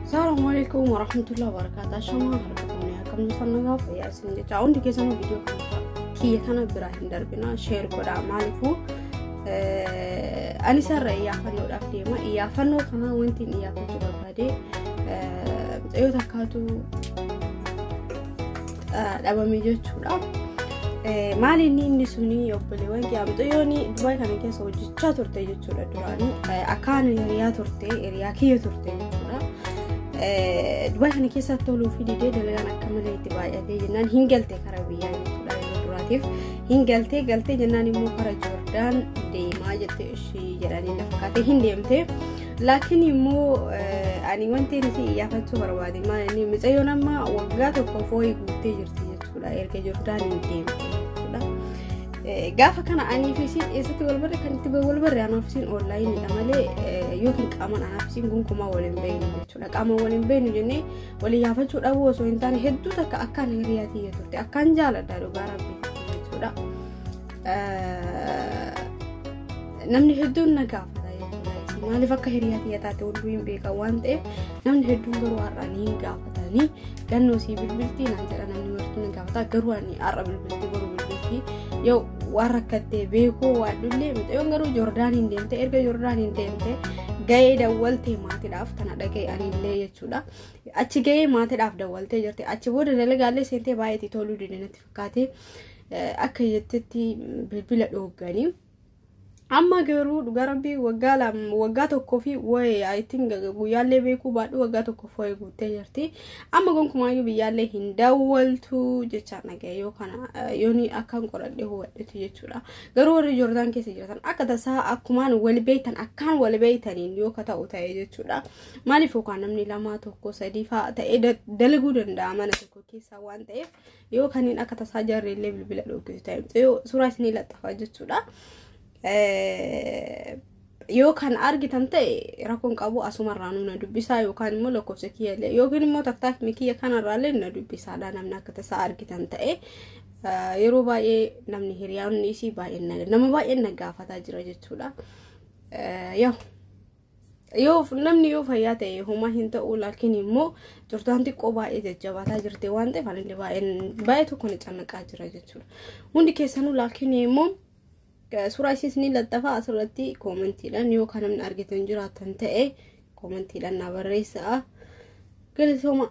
Assalamu alaikum warahmatullahi wabarakatuh. Shama harkatuni akkam jirtan nagaa fayyaa isin jecha hundi keessanuu viidiyoo kana kiyya kana biraa hin darbina sheer godha maaliifuu ani sarara iyyaafannoodhaaf deema iyyaafannoo kana wanti iyyaafachuu barbaade mucayyoo takkaatu dhabame jechuudha. Maali inni inni suni obboleewwan kiyyaa mucayyoon Dubaay kana keessa hojjechaa turte jechuudha duraanii akkaan hiriyaa turte hiriyaa kiyya turte jechuudha. Dubaay kana keessa toluu fi didee dalagaan akka malee itti baay'atee jennaan hin galte karaa biyyaa jechuudha yeroo duraatiif hin galtee galtee jennaan immoo karaa Joordaan deemaa jette ishii jedhanii na fakkaatee hin deemtee. Laakiin immoo ani wanti nuti iyyaafatuu barbaade maal inni micayyoon amma waggaa tokko fooyi guuttee jirti jechuudha erga Jordaan hin deemte jechuudha. Gaafa kana anii fi isiin eessatti wal barre kan itti wal barre anaa fi isiin oonlaayiniidha malee yookiin qaamaan anaa fi isiin gonkumaa wal hin beeknu jechuudha. Qaamaan wal hin beeknu jennee wal iyyaafachuu dhabuu osoo hin taane hedduu takka akkaan hiriyaatii turte akkaan jaaladha dhugaa rabbi jechuudha. namni hedduun na gaafata jechuudha. Maaliif akka hiriyaa kiyya taate hunduu hin beekan waan ta'eef namni hedduun garuu har'aan hin gaafatanii gannoo sii bilbilti naan jedha namni martuu na gaafata garuu ani har'a bilbilti garuu bilbilti yoo waan rakkattee beekuu waan dhullee mucayyoon garuu Joordaaniin deemte erga Joordaaniin deemte ga'ee dawwaltee maatiidhaaf tana dhaga'e anillee jechuudha. Achi ga'ee maatiidhaaf dawwaltee jirti achi booda dalagaallee seentee baay'ee itti toluu dide natti fakkaate akka jettetti bilbila dhoogganii amma garuu dhugaa rabbii waggaa lama waggaa tokkoo fi wayi I think guyyaallee beekuu baadhu waggaa tokkoof wayi guuttee jirti amma gonkumaayyuu biyyaallee hin daawwaltu jechaa dhagaye yoo kana eh, yooni akkaan qoradhe hubadhetu jechuudha garuu warri joordaan keessa jiratan akka tasaa akkumaan wal beektan akkaan wal beektaniin yoo ka ta'u ta'e jechuudha maaliif yookaan namni lamaa tokko sadii fa'a ta'ee da- dalaguu danda'a mana tokko keessaa waan ta'eef yoo kanneen akka tasaa jaarree illee bilbila dhookisu ta'e yoo suuraa isinii laxxafaa jechuudha. Yoo kan argitan ta'e rakkoon qabu asumarraa nu na dubbisaa yookaan immoo lakkoofsa kiyya illee yookiin immoo taktaakni kiyya kanarraa illee na dubbisaadha namni akka tasaa argitan ta'e yeroo baay'ee namni hiriyaanni isii baay'een nama baay'een na gaafataa jira jechuudha. Yoo yoo namni yoo fayyaa ta'e homaa hin ta'u laakiin immoo turtaan xiqqoo baay'ee jajjabaataa jirte waan ta'eef anillee baay'ee tokko na cannaqaa jira jechuudha. Hundi keessanuu laakiin immoo suuraa isiis ni laxxafa asirratti koomentiidhaan yoo kan namni argitan jiraatan ta'e koomentiidhaan na barreessaa. Galatooma.